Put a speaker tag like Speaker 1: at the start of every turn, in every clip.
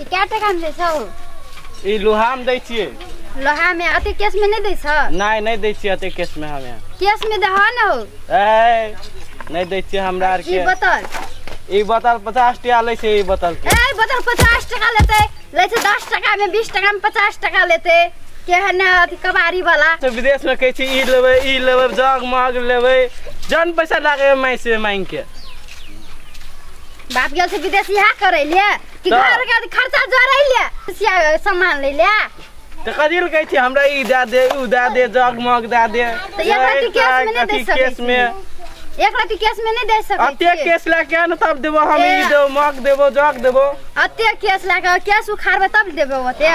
Speaker 1: ई कए टाका मे दै छौ ई लोहा में दै छियै लोहा मे अते केस मे नहि दै छौ नहि नहि दै छियै अते केस में हमे केस मे दह न हो ए नहि दै छियै हमरा आर ई के बोतल ई बोतल पचास टका लै छै ई बोतल के ए बोतल पचास टाका लेते लै छै दस टाका मे बीस टाका मे पचास टाका लेते केहन ने अथी कबाड़ी वाला तो विदेश में कहै छी ई लेबै ई लेबै जग मग लेबै जन पैसा लागे माइ से मांग के बाप गेल से विदेश इहा करे ले कि तऽ। घर के खर्चा जोड़ै ले सिया सामान ले ले तऽ कथी लए कहै छी हमरा ई दए दे उ दए दे जगमग दए दे तऽ एक रत्ती केस मे नहि अथी दे सकै केस छी। मे एक रति केस में नहीं दे सकै अते छी। केस लए के ने तब देबो हम ई ए। देबो मग देबो जग देबो अते केस लए के केस उखाड़बै तब देबै ओते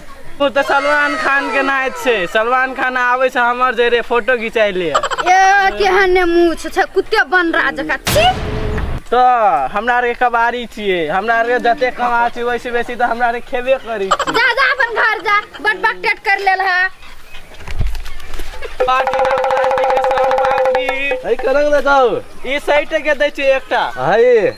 Speaker 1: ओ तऽ सलमान खान के नाच छै सलमान खान आबै छै हमर जे रे फोटो घिचाइ ले ए केहन ने मुँह छै छै कुत्ते बनरा जकाँ छी तऽ हमरा आरके कबाड़ी छियै हमरा आरके जते कमा छी वैसे बेसी तऽ हमरा आरके खेबे करी छी जा जा अपन घर जा बट बक टेट कर लेल है पार्टी ना प्लास्टिक के सब पार्टी है कलंग दे जाओ ई साइड के दै छियै एकटा है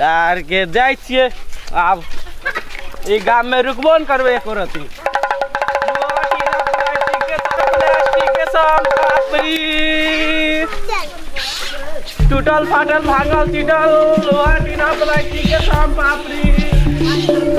Speaker 1: यार के जाय छिए आब ई गाम में रुकबो न करबे एको रति टूटल फाटल भांगल टूटल लोहा टीना प्लास्टिक के साम पापड़ी